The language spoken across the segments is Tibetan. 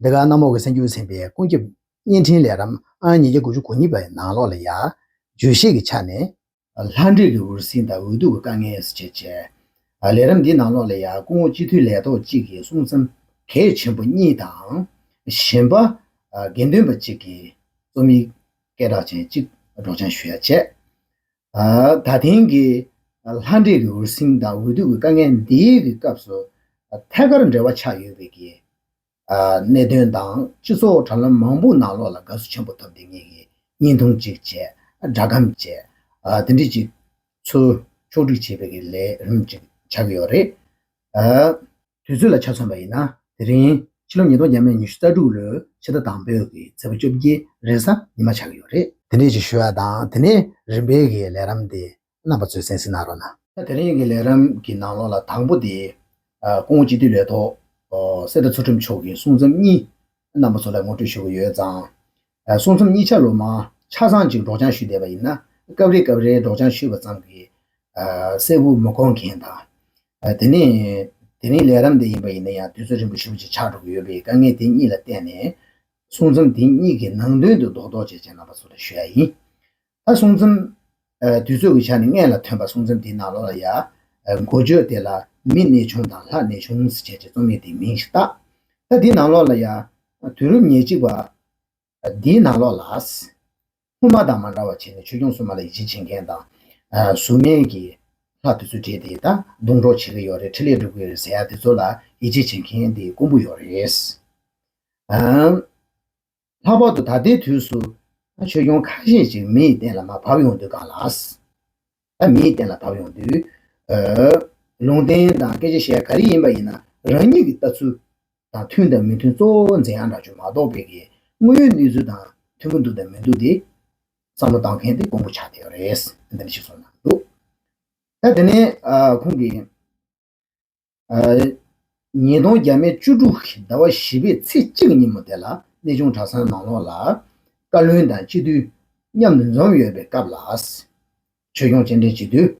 འདི་ག་ནག་མོག་གི་སེམས་རྒྱུད་ཚིམ་པའི་ཀུན་ཁྱབ་བརྙན་འཕྲིན་ལས་རམ་ཨང་ཉིས་བརྒྱ་དགུ་ཅུ་གོ་གཉིས་པ་ཡི་ནང་ལོགས་ལ་ཡ། བརྗོད་བཤད་ཀྱི་ཆ་ནས། ལྷ་འདྲེ་ལུས་འུར་ཟིང་དང་འུར་སྡུག་གི་དཀའ་ངལ་ཡོད་སྲིད་ཅེས་བཤད། ལས་རམ་འདིའི་ནང་ལོགས་ལ་ཡ་སྐུ་ངོ་སྤྱི་འཐུས་ལས་ཐོག་ཅིག་གིས་གསུང་མཚམས་གལ་ཆེན་པོ་གཉིས་དང། གཞན་པ། དགེ་འདུན་པ་གཅིག་གིས་རྩོམ་ཡིག་སྐད་གྲགས་ཅན་གཅིག་སྒྲོག་སྦྱང་ཞུ་ཡ་བྱས། ད་ཐེངས་ཀྱི་ལྷ་འདྲེ་ཀྱི་འུར་ཟིང་དང་འུར་རྡོ་གི་དཀའ་ངལ་འདིའི་གི་སྐབས་སུ་ཐད་ཀར་འབྲེལ་བ་ཆགས་ཡོད་པའི་གི་གནད་དོན་དང་སྤྱི་ཚོགས་དྲ་ལམ་མང་པོ་ནང་ལོགས་ལ་དགའ་བསུ་ཆེན་པོ་ཐོབ་འདི་ངེད་ཀྱིས་བརྙན་ཐུང་གཅིག་བཅས་སྒྲ་སྒམ་བཅས་འདི་འདྲི་གཅིག་ཚུལ་ཕྱོགས་སྒྲིག་བྱེད་པའི་གི་ལས་རིམ་གཅིག་ཆགས་ཀྱི་ཡོད་རེད། དུས་ཚོད་ལ་ཆ་མཚོན་པ་ཡིན་ན་དེ་རིང། ཕྱི་ལོ་ཉིས་སྟོང་བརྒྱད་མེད་ཉི་ཤུ་རྩ་དྲུག་ལོའི་ཕྱི་ཟླ་དང་པོའི་གི་ཚེས་པ་བཅོ་བརྒྱད་རེས་གཟའ་ཉི་མ་ཆགས་ཀྱི་ཡོད་རེད། དེ་འདྲའི་ཞིག་ཞུ་བ་དང་དེ་ནས་རིམ་པས་གི་ལས་རམ་དེ་རྣམ་པ་ཚོས་གསན་སྲིད་གནང་རོགས་གནང། ད་དེ་རིང་གི་ལས་རམ་གི་ནང་ལོགས་ལ་དང་པོ་དེ། ཀོང་བོ་སྤྱི་འཐུས་ལས་ཐོག་སེ་ཏྲ་ཚུལ་ཁྲིམས་མཆོག་གིས་གསུང་རྩོམ་གཉིས་རྣམ་པ་ཚོ་ལ་ངོ་སྤྲོད་ཞུ་གི་ཡོད་ཙང། སོང་མཚམས་གཉིས་ཆ་ལོ་མ་ཆ་ཚང་ཅིག་སྒྲོག་སྦྱང་ཞུས་བསྡད་པ་ཡིན་ན། སྐབས་རེ་སྐབས་རེའི་སྒྲོག་སྦྱང་ཞུས་པ་ཙམ་གྱིས་གསལ་བོ་མི་གོ་མཁན་དང། དེ་ནས་དེ་རིང་ལས་རབ་འདེད་ཡིན་པ་ཡིན་ན་ཡང་དུས་ཚོད་རིང་པོ་ཞིག་པོ་ཅིག་ཆགས་འགྲོ་གི་ཡོད་པས་དཀའ་ངལ་དེ་གཉིས་ལ་བརྟེན་ནས། སོང་མཚམས་དེ་གཉིས་ཀྱི་ནང་དོན་དུ་རྡོག་རྡོག་བཅས་བྱས་གནང་བ་ཚོ་ལ་ཞུ་ཡ་ཡིན། ཨ་གསུང་རྩོམ། དུས་ཚོད་ཀྱི་ཆ་ནས་མངལ་ལ་ཐོན་པ་གསུང་རྩོམ་དེའི་ནང་ལོགས་ལ་ཡ། མགོ་བརྗོད་དེ་ལ་མི་གནས་ཆུང་དང་ལྷ་གནས་ཆུང་ཟེར་བྱས་ཏེ་རྩོམ་ཡིག་དེའི་མིང་ཞིག་བཏགས། ད་དེའི་ནང་ལོགས་ལ་ཡ། དུས་རབས་ཉེར་གཅིག་པ། དེའི་ནང་ལོགས་ལ་ཨཱས། སྔོན་མ་དང་མ་འདྲ་བར་བྱས་ནས་ཆོས་སྐྱོང་སྲུང་མ་ལ་ཡིད་ཆེས་བྱེད་མཁན་དང། གཟུགས་མེད་ཀྱི། ལྷ་དེ་ཚོ་བྲིས་ཏེ་ད་རྡུང་གྲོགས་བྱེད་ཀྱི་ཡོད་རེད་ཁྲི་ལས་སྒྲུབ་ཀྱི་རེད་ཟེར་ཡ་དེ་ཚོ་ལ་ཡིད་ཆེས་བྱེད་མཁན་དེ་དཀོན་པོ་ཡོད་རེད། ལྷག་པར་དུ་ད་ལྟའི་དུས་སུ། ཆོས་སྐྱོང་ཁ་ཤས་ཤིག་མི་ཡི་སྟེང་ལ་མ་བབས་ཡོང་དུས་གང་ལགས། ད་མི་ཡི་སྟེང་ལ་བབས་ཡོང་དུས། ལུང་བསྟན་དང་སྐད་ཆ་བཤད་ག་རེ་ཡིན་པ་ཡིན་ན་རང་ཉིད་ཀྱི་ལྟ་ཚུལ་དང་མཐུན་དང་མི་མཐུན་གཙོ་བོ་འཛིན་ཡག་འདྲ་བྱུང་མ་གཏོགས་དཔེ་གི་དངོས་ཡོད་གནས་ཚུལ་དང་མཐུན་པོ་འདུག་དང་མི་འདུག་དེ། བསམ་བློ་བཏང་མཁན་དེ་དཀོན་པོ་ཆགས་བསྡད་ཡོད་རེད། འདི་འདྲ་ཞིག་གསུངས་གནང་འདུག་ད་དེ་ནས་ཁོང་གིས། ཉིས་སྟོང་བརྒྱ་མེད་བཅུ་དྲུག་གི་ཟླ་བ་བཞི་པའི་ཚེས་གཅིག་ཉིན་མོ་དེ་ལ་གནས་ཆུང་གྲྭ་ཚང་ནང་ལོགས་ལ། བཀའ་བློན་དང་སྤྱི་འཐུས་མཉམ་དུ་འཛོམས་ཡོད་པའི་སྐབས་ལ། ཆོས་སྐྱོང་སྤྱན་འདྲེན་སྤྱི་འཐུས།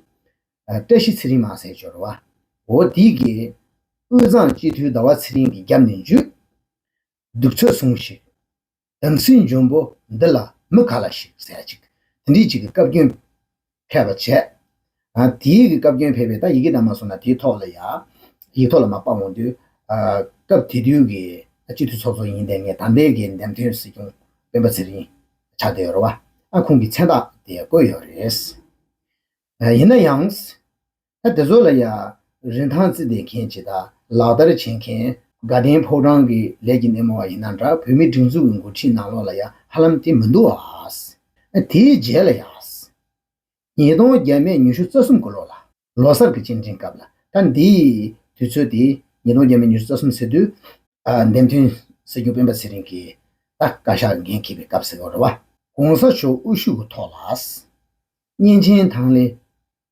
བཀྲ་ཤིས་ཚེ་རིང་མ་སེར་ཇོ་རུ་བ། འོ་དིག་གིས། དབུས་གཙང་སྤྱི་འཐུས་ཟླ་བ་ཚེ་རིང་གི་རྒྱབ་ནས་འཇུས། གདུགས་ཚོད་ཟུངས་ཤིག། དམ་སྲི་འབྱུང་པོ་འདི་ལ་མི་ག་ལ་ཞིག་ཟད་ཅིག་དེ་འདྲིས་ཅིག་གི་བཀའ་བཀྱོན་ཕལ་པ་བྱས། དེའི་གི་བཀའ་བཀྱོན་ཕལ་པས་ད་ཡི་གེ་དག་མ་སོང་ན་དེའི་ཐོག་ལ་ཡག་ཡིག་ཐོག་ལ་མ་དཔག་འོང་དུས། སྐབས་དེ་དུས་གི་སྤྱི་འཐུས་ཚོགས་གཙོ་ཡིན་ཏེ་ངས་དམ་པའི་གི་འདེམས་ཐོན་སྲིད་སྐྱོང་སྤེན་པ་ཚེ་རིང་ཆགས་བསྡད་ཡོད་ར་བ་ཨ་ཁུང་གི་མཚན་རྟགས་དེ་བཀོད་ཡོད་རེད། ཡིན་ན་ཡང། ད་དེ་ཚོ་ལ་ཡང་རིན་ཐང་བརྩི་བདེ་མཁན་ཇི་ལྟར་ལག་བསྟར་བྱེད་མཁན། དགའ་ལྡན་ཕོ་བྲང་གི་ལས་ཀྱི་སྣེ་མོ་བ་ཡིན་ན་འདྲ་བོད་མི་སྒྲིག་འཛུགས་ཀྱི་འགོ་ཁྲིད་ནང་ལོགས་ལ་ཡང་ཧ་ལམ་དེ་མི་འདུག་ཨཱ། དེའི་རྗེས་ལ་ཡང། ཉིས་སྟོང་བརྒྱད་མེད་ཉི་ཤུ་རྩ་གསུམ་གྱི་ལོ་ལ། ལོ་སར་གྱི་སྤྱི་འགྲེང་སྐབས་ལ་ད་འདི། དུས་ཚོད་དེ་ཉིས་སྟོང་བརྒྱད་མེད་ཉི་ཤུ་རྩ་གསུམ་ཟེར་དུས། འདེམས་ཐོན་སྲིད་སྐྱོང་སྤེན་པ་ཚེ་རིང་གིས་ད་བཀའ་ཤག་འགན་འཁྱེར་བའི་སྐབས་ཟེར་བ་རེད་བ། གོང་ས་མཆོག་དབུ་བཞུགས་ཀྱི་ཐོག་ལ། གཉན་ཆེན་ཐང་ལེ།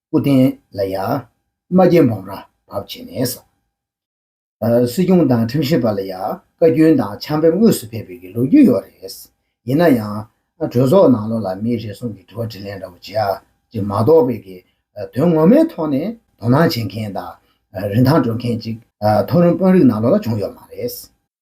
སྐུ་རྟེན་ལ་ཡང། རྨ་རྒྱལ་འབུམ་རམས་བབས་བྱས་ནས། སྲིད་སྐྱོང་དང་ཁྲིམས་ཞིབ་པ་ལ་ཡང་བཀའ་རྒྱུན་དང་ཆང་ཕེབས་དངོས་སུ་ཕེབས་པའི་ལོ་རྒྱུས་ཡོད་རེད། ཡིན་ན་ཡང། གྲོས་ཚོགས་ནང་ལོགས་ལ་མིའི་རེ་ཟུང་གི་དྲི་བ་དྲིས་ལན་འདྲ་པོ་བྱས་རྗེས་མ་གཏོགས་པའི་གི་དོན་ངོ་མའི་ཐོག་ནས་དོ་སྣང་བྱེད་མཁན་དང་རིན་ཐང་སྤྲོད་མཁན་གཅིག་མཐོ་རིམ་དཔོན་རིགས་ནང་ལོགས་ལ་བྱུང་ཡོད་མ་རེད།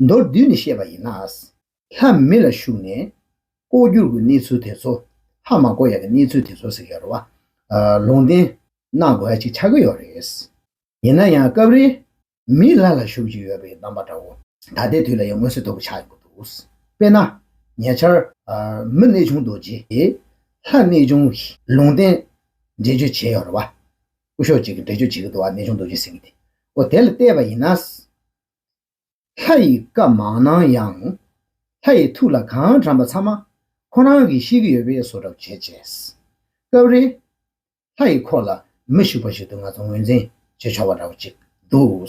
མདོར་བསྡུས་ནས་བཤད་པ་ཡིན་ན། ལྷ་མི་ལ་ཞུགས་ནས། ལྐོག་གྱུར་གྱི་གནས་ཚུལ་དེ་ཚོ། ལྷ་མ་ལྐོག་ཡ་གྱི་གནས་ཚུལ་དེ་ཚོ་ཟེར་གྱི་ཡོད་རེད་བ། ལུང་བསྟན། གནང་དགོས་ཡ་ཅིག་ཆགས་ཀྱི་ཡོད་རེད། ཡིན་ན་ཡང་སྐབས་རེ། མིས་ལྷ་ལ་ཞུགས་ཀྱི་ཡོད་པའི་གདམས་པ་འདྲ་བོ། ད་ལྟའི་དུས་ལ་ཡང་མངོན་གསལ་དོད་པོ་ཆགས་ཡོད་པ་འདུག། དཔེར་ན། ཉེ་ཆར། མི་གནས་ཆུང་རྡོ་རྗེ། ལྷ་གནས་ཆུང། ལུང་བསྟན། འགྲེལ་བརྗོད་བྱས་ཡོད་རེད་བ། སྐུ་ཞོགས་གཅིག་གིས་འགྲེལ་བརྗོད་བྱེད་ཀྱི་འདུག་བ་གནས་ཆུང་རྡོ་རྗེ་ཟེར་གྱི་དེ། འོ་དེ་ལ་བལྟས་པ་ཡིན་ན། ལྷ་ཡི་བཀའ་མ་གནང་ཡང། ལྷ་ཡི་ཐུགས་ལ་གང་དྲངས་པ་ཚང་མ་ཁོ་རང་གིས་ཤེས་ཀྱི་ཡོད་པས་བཟོ་གྲབས་བྱས་བྱས། སྐབས་རེ། ལྷ་ཡི་འཁོར་ལ་མི་ཞུགས་པ་ཞིག་ཏུ་ང་ཚོ་ངོས་འཛིན་བྱེད་ཆོག་པ་འདྲ་བོ་ཅིག་འདུག།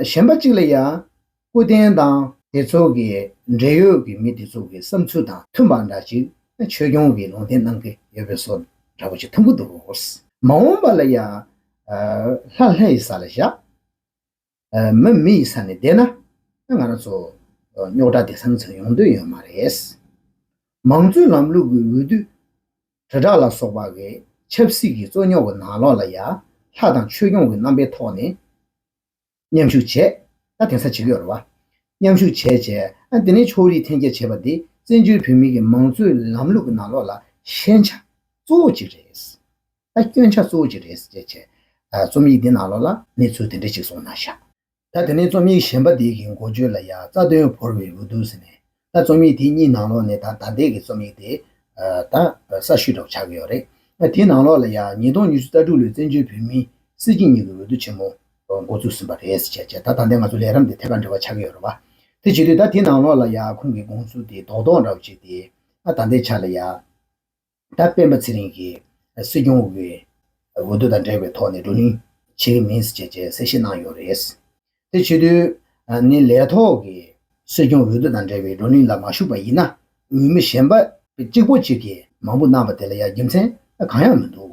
གཞན་པ་གཅིག་ལ་ཡང་སྐུ་རྟེན་དང། དེ་ཚོ་གི་འབྲེལ་ཡོད་ཀྱི་མི་དེ་ཚོ་གི་བསམ་ཚུལ་དང་མཐུན་པ་འདྲ་ཅིག་ཆོས་སྐྱོང་གིས་ལུང་བསྟན་གནང་གི་ཡོད་པས་བཟོ་འདྲ་བོ་ཅིག་ཐུག་གི་འདུག། མ་འོངས་པ་ལ་ཡང། ལྷ་ལྷའི་ས་ལ་བཞག། མོ་མི་ཡི་ས་ནས་བསྡད་ན། ང་རང་ཚོ། རྙོག་དྲ་དེ་སང་ཚང་ཡོང་འདོད་ཡོད་མ་རེད། མང་གཙོའི་ལམ་ལུགས་ཀྱི་འོས་བསྡུ། དྲིལ་བསྒྲགས་ལ་སོགས་པ་འི་ཆབ་སྲིད་ཀྱི་རྩོད་རྙོག་གི་ནང་ལོགས་ལ་ཡ། ལྷ་དང་ཆོས་སྐྱོང་གི་རྣམ་པའི་ཐོག་ནས། མཉམ་ཞུགས་བྱས། ད་དེང་སང་བྱེད་ཀྱི་ཡོད་རེད་བ། མཉམ་ཞུགས་བྱས་བྱས། ཨ་དེ་ནས་ཕྱོགས་རིས་འཐེན་འཁྱེར་བྱས་པ་དེ་བཙན་བྱོལ་བོད་མི་གི་མང་གཙོའི་ལམ་ལུགས་ཀྱི་ནང་ལོགས་ལ་ཤན་ཆ། གཙོ་བོ་གཅིག་རེད། ད་སྐྱོན་ཆ་གཙོ་བོ་ཅི་རེད་ཟེར་བྱས། རྩོམ་ཡིག་འདི་ནང་ལོགས་ལ་གནས་ཚུལ་དེ་འདྲ་ཞིག་སོང་ན་ཤག། ད་དེ་ནས་རྩོམ་ཡིག་གཞན་པ་འདི་གི་མགོ་བརྗོད་ལ་ཡང་རྩ་དོན་བོར་བའི་འོས་འདུག་ཟེར་ནས། ད་རྩོམ་ཡིག་དེ་གཉིས་ནང་ལོགས་ནས་ད་ད་ལྟའི་གི་རྩོམ་ཡིག་དེ། ད་གསར་ཤོས་གྲོགས་ཆགས་ཀྱི་ཡོད་རེད། དེའི་ནང་ལོགས་ལ་ཡང་ཉིས་སྟོང་ཉི་ཤུ་རྩ་དྲུག་ལོའི་བཙན་བྱོལ་བོད་མིའི་སྲིད་སྤྱི་གཉིས་ཀྱི་འོས་བསྡུ་ཆེན་མོ། མགོ་བཙུགས་ཟིན་པ་རེད་ཟེར་བྱས་བྱས་ད་ད་ལྟའི་ང་ཚོ་ལས་རམས་དེ་ཐད་ཀར་འབྲེལ་བ་ཆགས་ཀྱི་ཡོད་རེད་བ། དེ་བྱེད་དུས་ད་དེའི་ནང་ལོགས་ལ་ཡང་ཁོང་གི་དགོངས་ཚུལ་དེ་རྡོག་རྡོག་འདྲ་བོ་བྱས་ཏེ། ད་ལྟའི་ཆ་ལ་ཡང། ད་སྤེན་པ་ཚེ་རིང་གིས་སྲིད་སྐྱོང་འོས་བསྡུ་དང་འབྲེལ་བའི་ཐོག་ནས་བགྲོ་གླེང་བྱེད་ཀྱི་མིན་ཞེས་གསལ་བཤད་གནང་ཡོད་རེད། དེ་བྱེད་དུས་ནི་ལས་ཐོག་གི་སྲིད་སྐྱོང་འོས་བསྡུ་དང་འབྲེལ་བའི་བགྲོ་གླེང་ལ་མ་ཞུགས་པ་ཡིན་ན་འོས་མི་གཞན་པ་གཅིག་པོ་གཅིག་གིས་མང་པོ་གནང་བ་དེ་ལ་ཡང་རྒྱུ་མཚན་གང་ཡང་མི་འདུག་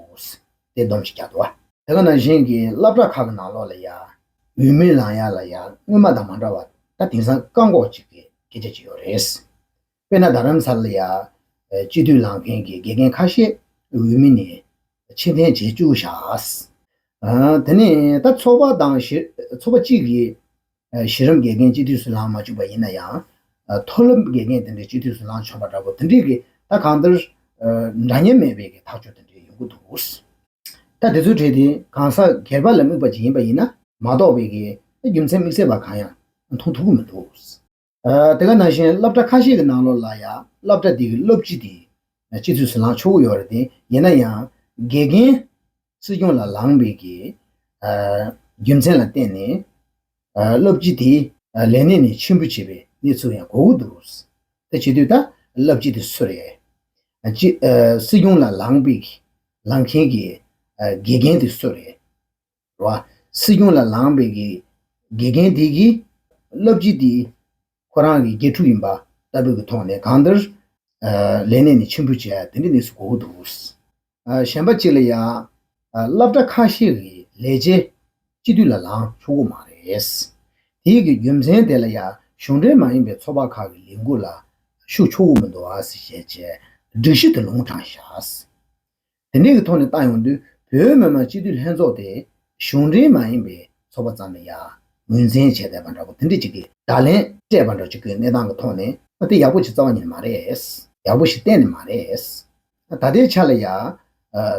དེ་སྡོམ་ཞིག་རྒྱག་དགོས། དེ་ག་ནང་བཞིན་གྱི་བླ་བྲག་ཁག་གི་ནང་ལོགས་ལ་ཡང་འོས་མི་ལངས་ཡ་ལ་ཡང་སྔོན་མ་དང་མ་འདྲ་བར་ད་དེང་སང་བཀག་འགོག་ཅིག་གི་སྐད་ཆ་བྱེད་ཡོད་རེད། དཔེར་ན་རྡ་རམ་ས་ལ་ཡ། སྤྱི་འཐུས་ལངས་མཁན་གྱི་དགེ་རྒན་ཁ་ཤས་འོས་མི་ནས་ཕྱིར་འཐེན་བྱེད་བཅུག་བཞག། དེ་ནས་ད་ཚོགས་པ་དང་ཚོགས་པ་གཅིག་གིས་གཞི་རིམ་དགེ་རྒན་སྤྱི་འཐུས་སུ་ལངས་མ་བཅུག་པ་ཡིན་ན་ཡང། མཐོ་སློབ་དགེ་རྒན་དེ་འདྲས་སྤྱི་འཐུས་སུ་ལངས་ཆོག་པ་འདྲ་པོ་དེ་འདྲས་ཀྱི་ད་གང་ལྟར། འདྲ་མཉམ་མེད་པའི་གི་ཐག་གཅོད་དེ་འདྲས་ཡོང་གི་འདུག། ད་དེ་ཚོའི་གྲས་དེ་གང་ཟག་སྒེར་པ་ལ་དམིགས་པ་ཅིག་ཡིན་པ་ཡིན་ན་མ་གཏོགས་པའི་གི་རྒྱུ་མཚན་དམིགས་བསལ་བ་གང་ཡང་མཐོང་ཐུབ་ཀྱི་མི་འདུག། དེ་ག་ནང་བཞིན་སློབ་གྲྭ་ཁ་ཤས་ཀྱི་ནང་ལོགས་ལ་ཡང་སློབ་གྲྭ་དེ་གའི་སློབ་སྤྱི་དེ་སྤྱི་འཐུས་སུ་ལངས་ཆོག་གི་ཡོད་རེད་དེ། ཡིན་ན་ཡང་དགེ་རྒན་སྲིད་སྐྱོང་ལ་ལངས་པའི་གི་རྒྱུ་མཚན་ལ་བརྟེན་ནས་སློབ་སྤྱི་དེ་ལས་གནས་ནས་ཕྱིར་འབུད་བྱས་པའི་གནས་ཚུལ་ཡང་གོ་གི་འདུག་དེ་བྱེད་དུས་ད་སློབ་སྤྱི་དེ་སུ་རེད། སྤྱི་སྲིད་སྐྱོང་ལ་ལངས་པའི་ལངས་མཁན་གྱི་དགེ་རྒན་དེ་སུ་རེད། ར་བ། སྲིད་སྐྱོང་ལ་ལངས་པའི་དགེ་རྒན་དེ་གིས། བསླབ་སྤྱི་དེ་ཁོ་རང་གི་དགེ་ཕྲུག་ཡིན་པ་ལྟ་བུ་གི་ཐོག་ནས་གང་ལྟར། ལས་གནས་ནས་ཕྱིར་འབུད་བྱས་ཡ་དེ་འདྲའི་གནས་སུ་གོ་གི་འདུག། གཞན་པ་གཅིག་ལ་ཡང། སླབ་གྲ་ཁ་ཤས་གི་ལས་བྱེད། སྤྱི་འཐུས་ལ་ལངས་ཆོག་གི་མ་རེད། དེ་གི་རྒྱུ་མཚན་དེ་ལ་ཡང་གཞུང་འབྲེལ་མ་ཡིན་པའི་ཚོགས་པ་ཁག་གི་ལས་འགུལ་ལ་ཞུགས་ཆོག་གི་མི་འདུག་ཞེས་བཅས་སྒྲིག་གཞི་དེ་ལུང་དྲངས་བཞག། དེ་འབྲེལ་གྱི་ཐོག་ནས་ཏང་ཡོངས་འདུས་བོད་མི་མང་སྤྱི་འཐུས་ལྷན་ཚོགས་དེ་གཞུང་འབྲེལ་མ་ཡིན་པའི་ཚོགས་པ་ཙམ་ལས་ཡང་ངོས་འཛིན་བྱས་བསྡད་པ་འདྲ་པོ་དེ་འདྲས་ཅིག་གི་བརྡ་ལན་སྤྲད་པ་འདྲ་ཅིག་གི་གནས་སྟངས་ཀྱི་ཐོག་ནས། ཨ་དེ་ཡག་པོ་ཞིག་རྩ་བ་ཉིད་ནས་མ་རེད། ཡག་པོ་ཞིག་གཏན་ནས་མ་རེད། ད་ལྟའི་ཆ་ལ་ཡང།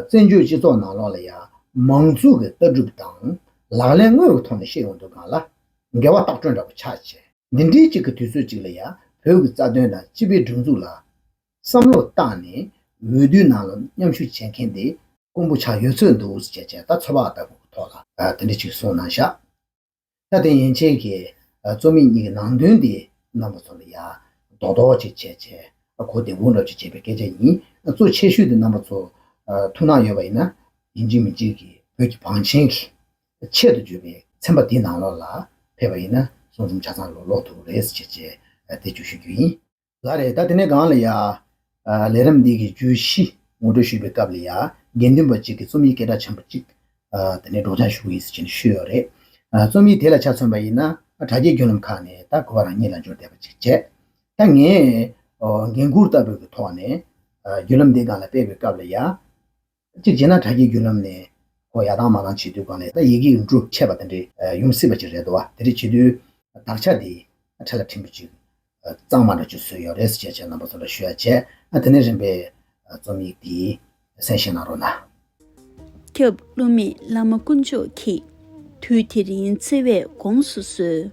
བཙན་བྱོལ་སྤྱི་ཚོགས་ནང་ལོགས་ལ་ཡང་མང་གཙོ་གི་ལྟ་གྲུབ་དང་ལག་ལེན་དངོས་ཀྱི་ཐོག་ནས་བཤད་ཡོང་དུས་གང་ལ་འགལ་བ་ལྟག་སྤྲོད་འདྲ་པོ་ཆགས། འདི་འདྲས་ཅིག་གི་དུས་ཚོད་ཅིག་ལ་ཡང་བོད་ཀྱི་རྩ་དོན་དང་སྤྱི་པའི་སྒྲིག་འཛུགས་ལ་བསམ་བློ་བཏང་ནས་འོས་བསྡུའི་ནང་ལ་མཉམ་ཞུགས་བྱེད་མཁན་དེ་དཀོན་པོ་ཆགས་ཡོད་ཚོད་འདུག་ཅེས་བྱས་ད་ཚོད་དཔག་ལྟ་བུ་ཐོག་ལ་དེ་འདྲ་ཅིག་གསུངས་གནང་ཤག་ད་དེ་ཡན་ཆད་ཀྱི་རྩོམ་ཡིག་གཉིས་ཀྱི་ནང་དོན་དེ་རྣམ་པ་ཚོ་ལ་ཡ་རྡོག་རྡོག་ཅིག་བྱས་བྱས་གོ་བདེ་བོ་འགྲོ་ཅིག་བྱས་པའི་སྐད་ཆ་ཡིན་གཙོ་ཆེ་ཤོས་དེ་རྣམ་པ་ཚོ་ཐུགས་སྣང་ཡོད་པ་ཡིན་ན་ཡིན་གཅིག་མིན་གཅིག་གིས་བོད་ཀྱི་བང་ཆེན་གྱི་ཆེད་དུ་བརྗོད་པའི་ཚན་པ་དེ་ནང་ལོགས་ལ་ཕེབས་པ་ཡིན་ན་གསུང་རྩོམ་ཆ་ཚང་ལོག་ལོག་འདུག་རེད་ཅེས་བྱས་ད་བརྗོད་ཞུ་རྒྱུ་ཡིན། ལ་རེད་ད་དེ་ནས་གང་ལ་ཡ། ལས་རིམ་འདི་གི་བརྗོད་གཞི་ངོ་སྤྲོད་ཞུས་པའི་སྐབས་ལ་ཡ། དགེ་འདུན་པ་གཅིག་གི་རྩོམ་ཡིག་སྐད་གྲགས་ཆེན་པོ་གཅིག། དེ་ནས་སྒྲོག་སྦྱང་ཞུ་གི་ཡིན་ཟེར་བཞིན་ཤོད་ཡོད་རེད། རྩོམ་ཡིག་དེ་ལ་ཆ་མཚོན་པ་ཡིན་ན། དྲ་རྒྱའི་བརྒྱུད་ལམ་ཁག་ནས་ད་གོ་བ་རང་ཉིད་ལ་འབྱོར་བསྡད་པ་གཅིག་བྱས། ད་ངས། འགན་འཁུར་ལྟ་བུ་གི་ཐོག་ནས། བརྒྱུད་ལམ་འདི་གང་ལ་སྤེལ་བའི་སྐབས་ལ་ཡ། གཅིག་བྱས་ན་དྲ་རྒྱའི་བརྒྱུད་ལམ་ནས་ཧོ་ཡག་དང་མ་དང་བྱེད་དུས་གང་ལེགས་ད་ཡི་གེ་འབྲུ་ཆད་པ་དེ་འདྲས་ཡོང་སྲིད་པ་ཅིག་རེད་དོ་བ་དེ་འདྲས་བྱེད་དུས་དག་ཆ་དེ་འཕྲལ་ལ་ཕྲན་བུ་ཅིག་གཙང་མ་འདྲ་བྱོས་སུ་ཡོད་རེད་ཅེས་བྱས་རྣམ་པ་ཚོ་ལ་ཞུ་ཡ་བྱས་དེ་ནས་རིམ་པས་རྩོམ་ཡིག་དེ་གསན་བཞེས་གནང་རོགས་གནང། སྐྱབས་བསླུ་མེད་བླ་མ་དཀོན་མཆོག་གིས། དུས་དེ་རིང་བརྩེ་བས་དགོངས་སུ་གསོལ།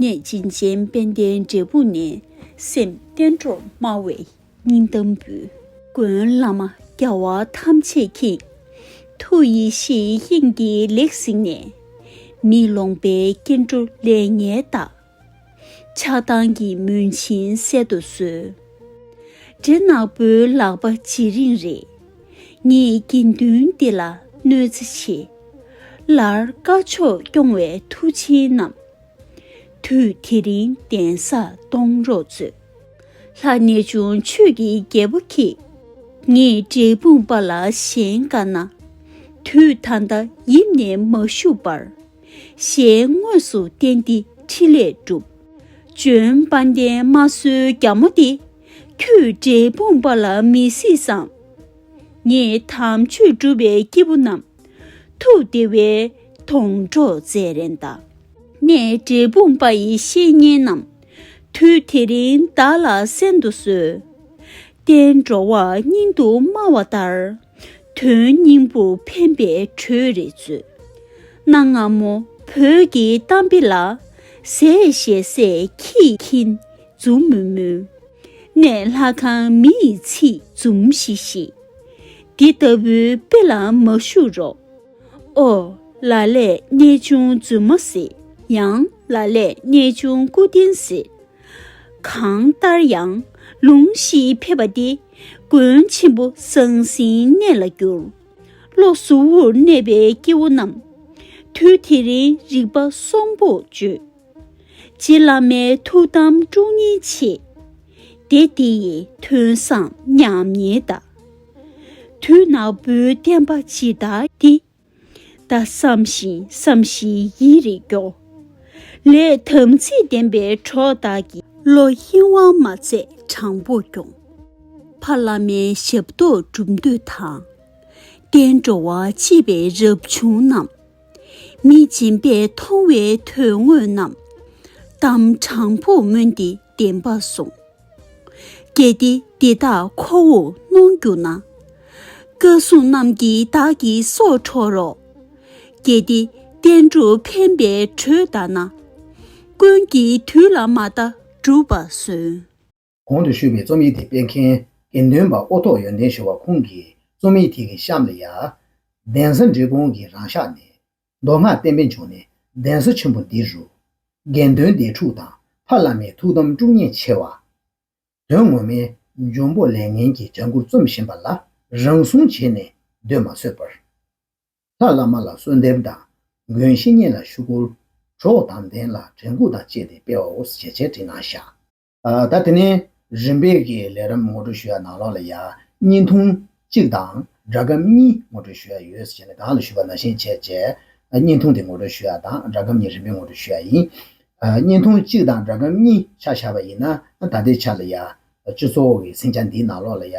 གནས་བྱིན་ཅན་དཔལ་ལྡན་འབྲས་སྤུངས་ནས། སེམས་བརྟན་འགྲོར་སྨྲ་བའི། སྙིང་གཏམ་འབུལ། མགོན་བླ་མ་རྒྱ་བ་ཐམས་ཅད་ཀྱིས། ཐུགས་ཡེ་ཤེས་དབྱིངས་འདི་ལེགས་གཟིགས་ནས། མི་ལོངས་པའི་སྐྱེ་འགྲོ་ལས་ངན་བདག། ཆགས་སྡང་གི་མུན་བྱིན་བསལ་དུ་གསོལ། འདྲེ་ནག་པོའི་ལག་པ་ཇེ་རིང་རེ། ངེད་དགེ་འདུན་འདི་ལ་གནོད་འཚེ་ཆེ། ལར་བཀའ་ཆོས་སྐྱོང་བའི་མཐུ་ཆེན་རྣམས། དུས་དེ་རིང་གདན་ས་གཏོང་རོགས་མཛོད། ལྷ་གནས་བྱུང་ཆོས་ཀྱི་རྒྱལ་པོ་ཁྱེད། ངས་འབྲས་སྤུངས་པ་ལ་གཞན་དགའ་ན། དུས་ད་ལྟ་ཡིབ་ནས་མ་བཞུགས་པར། ཞལ་དངོས་སུ་བསྟན་འདི་ཕྲིན་ལས་སྒྲུབ། བྱོན་དཔའ་འདན་མ་གསོལ་རྒྱ་མོ་འདི། ཁྱོད་འབྲས་སྤུངས་པ་ལ་མི་སྲིད་བསམ། ངས་དམ་ཆོས་སྒྲུབ་པའི་སྐྱེས་བུ་རྣམས། ཐུགས་བདེ་བའི་དོང་གྲོགས་མཛད་རན་གདའ། ནས་འབྲས་སྤུངས་པ་ཡི་བཤེས་གཉེན་རྣམས། དུས་དེ་རིང་བདག་ལ་གསན་དུ་གསོལ། བསྟན་འགྲོ་བ་སྙིང་དུ་སྨྲ་བ་ལྟར། དོན་སྙིང་པོ་ཕན་པའི་གྲོས་རེ་མཛོད། གནའ་སྔ་མོ་བོད་ཀྱི་གཏམ་དཔེ་ལ། ཟས་བཞེས་ཟས་ཀྱིས་ཁྱིན་འཛུམ་མུལ་མུལ། གནས་ལྷ་ཁང་མི་ཡི་ཚིག་འཛུམ་ཤིག་ཤིག། འདི་ལྟ་བུའི་དཔེ་ལ་མ་ཞུགས་རོགས། ཨོ། ལ་ལས་གནས་ཆུང་རྫུན་མ་སྲིད། ཡང་ལ་ལས་གནས་ཆུང་སྐུ་རྟེན་སྲིད། གང་ལྟར་ཡང་ལུང་གཞིའི་ཕེབས་པ་འདི། མགོན་ཆེན་པོ་ཟང་ཟིང་གནས་ལ་བསྒྱུར། བློ་གཟུ་བོར་གནས་པའི་སྐྱེ་བོ་རྣམས། དུས་དེ་རིང་རིག་པ་གསོང་པོ་བརྗོད། རྗེ་བླ་མའི་ཐུགས་དམ་དཀྲུག་སྙིང་ཆེ། སྡེ་འདི་ཡི་ཐུན་བཟང་མཉམ་ཉིད་བདག། དུད་ནག་པོའི་བསྟན་པ་ཇི་ལྟར་འདི། བདག་བསམ་ཞིང་བསམ་བཞིན་ཡིད་རེ་སྐྱོ། ལས་དམ་ཚིག་ལྡན་པའི་གྲོགས་དག་གི། བློ་གཡེང་བ་མ་མཛད་དྲང་པོ་སྐྱོང། ཕ་བླ་མའི་ཞབས་ཏོག་བསྒྲུབ་འདོད་དང། བསྟན་འགྲོ་བ་གཅེས་པའི་རབ་བྱུང་རྣམས། མི་སྦྱིན་པས་མཐོང་བའི་དོན་དངོས་རྣམས། གཏམ་དྲང་པོ་སྨོན་ཏེ་བདེན་པར་གསུངས། གལ་ཏེ་འདི་དག་ཁོ་བོས་གནོང་གྱུར་ན། བཀའ་སྲུང་རྣམས་ཀྱིས་བདག་གི་སྲོག་འཕྲོག་རོགས། གལ་ཏེ་བསྟན་སྒྲུབ་ཕན་པའི་གྲོས་བདག་ན། ཀུན་གྱིས་དུས་ལ་མ་བལྟ་བསྒྲུབ་པར་གསོལ། གོང་དུ་ཞུས་པའི་རྩོམ་ཡིག་འདི་སྤེལ་མཁན་དགེ་འདུན་པ་ཨོ་ཐོག་ཡོན་ཏན་ཞུ་བ་ཁོང་གིས་རྩོམ་ཡིག་དེ་གི་གཤམ་ལ་ཡར། གདན་ས་འབྲི་གུང་གི་རང་ཤག་ནས། མདོ་སྔགས་བསྟན་པའི་འབྱུང་གནས་གདན་ས་ཆེན་པོ་འདི་རུ། དགེ་འདུན་སྡེ་དྲུག་དང་ཕ་བླ་མའི་ཐུགས་དམ་དཀྲུགས་ཉེས་ཆེ་བ། དོན་ངོ་མའི། འབྱུང་པོ་ལས་ངན་གྱི་ལྗང་གུར་རྩོམ་བཞིན་པ་ལ་རང་སྲུང་བྱས་ནས་སྡོད་མ་བཟོད་པར། ལྷ་བླ་མ་ལ་གསོལ་འདེབས་དང། མགོན་བཤེས་གཉེན་ལ་ཞུ་སྐུར། གྲོགས་དང་ལྡན་ལ་དྲན་སྐུལ་དང་བཅས་ཏེ་སྤེལ་བའོ་ཞེས་འཆད་ཁྲིད་གནང་ཤག། ད་དེ་ནས་རིམ་པས་ཀྱི་ལས་རམ་ངོ་སྤྲོད་ཞུ་ཡག་ནང་ལོགས་ལ་ཡག་བརྙན་ཐུང་གཅིག་དང་སྒྲ་སྒམ་གཉིས་ངོ་སྤྲོད་ཞུ་ཡག་ཡོད་ཟེར་བྱས་ནས་གང་ལ་ཞུ་བ་ན་གཞན་བྱས་བྱས། བརྙན་ཐུང་དེ་ངོ་སྤྲོད་ཞུ་ཡག་དང་སྒྲ་སྒམ་གཉིས་རིམ་པས་ངོ་སྤྲོད་ཞུ་ཡག་ཡིན། བརྙན་ཐུང་གཅིག་དང་སྒྲ་སྒམ་གཉིས་ཆ་བཞག་པ་ཡིན་ན་ད་ལྟའི་ཆ་ལ་ཡག། བཅུ་གཙོ་བོ་གི་སིང་ཆ་འདིའི་ནང་ལོགས་ལ་ཡག་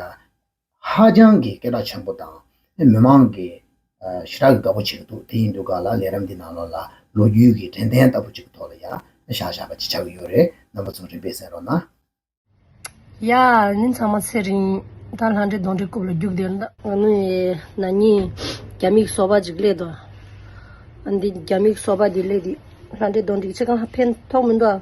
ཧ་ཅང་གི་སྐད་གྲགས་ཆེན་པོ་དང་མི་མང་གི་ཞེ་དྲག་གི་དགའ་པོ་བྱེད་ཀྱི་འདུག་དེ་ཡིན་དུས་ག་ལ་ལས་རབས་འདི་ནང་ལོགས་ལ་ལོ་རྒྱུས་ཀྱི་དྲན་རྟེན་ལྟ་བུ་ཅིག་གི་ཐོག་ལ་ཡ་བཞག་བཞག་པ་ཅིག་ཆགས་ཀྱི་ཡོད་རེད་རྣམ་པ་ཚོ་རིག་པས་གསན་རོགས་གནང། ཡ། ནི་ཚང་མ་ཚེ་རིང། ད་ལྷ་འདྲེ་གདོན་འདྲེ་རྐུབ་ལ་རྒྱུག་བསྡད་ན། ང་ནི་ན་ནིང་རྒྱ་མིག་སོ་པ་ཅིག་གླས་འདུག། འདི་རྒྱ་མིག་སོ་པ་འདི་གླས་དུས་ལྷ་འདྲེ་གདོན་འདྲེ་ཁྱེད་གང་ལ་ཕན་ཐོགས་མི་འདུག།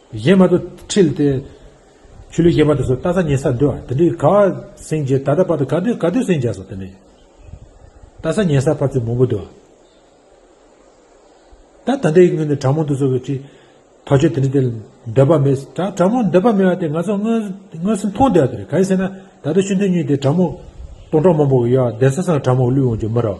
གཞན་མ་དུ་ཁྲིལ་ཏེ། ཆུ་ལུད་གཞན་མ་དུ་སོ་ཏྭ་ས་ཉེ་སར་འདུལ་བ་དེ་འདྲའི་ག་བ་སེང་བྱས་ད་ལྟ་བར་དུ་ག་དུས་ག་དུས་སེང་བྱས་སོ་དེ་འདྲའི་ཏྭ་ས་ཉེ་སར་ཕར་ཚུར་མང་པོ་འདུལ་བ། ད་ད་འདྲའི་དངོས་ནི་གྲང་མོ་འདུལ་སོ་བའི་ཁྲིད། ཐག་ཆོད་དེ་འདྲ་དེ་འདོད་པ་མེད། གྲང་མོ་འདོད་པ་མེད་བ་དེ་ང་ཚོ་དངོས་སུ་མཐོང་བསྡད་བ་དེ་རེད་ག་ཡིན་ཟེར་ན་ད་ལྟ་ཤུན་ཐུང་གཉིས་དེ་གྲང་མོ་སྟོང་ཕྲག་མང་པོ་ཡོད་བ་བདེན་ས་སང་གྲང་མོ་བླུད་འོང་རྒྱུ་མི་ར་བ།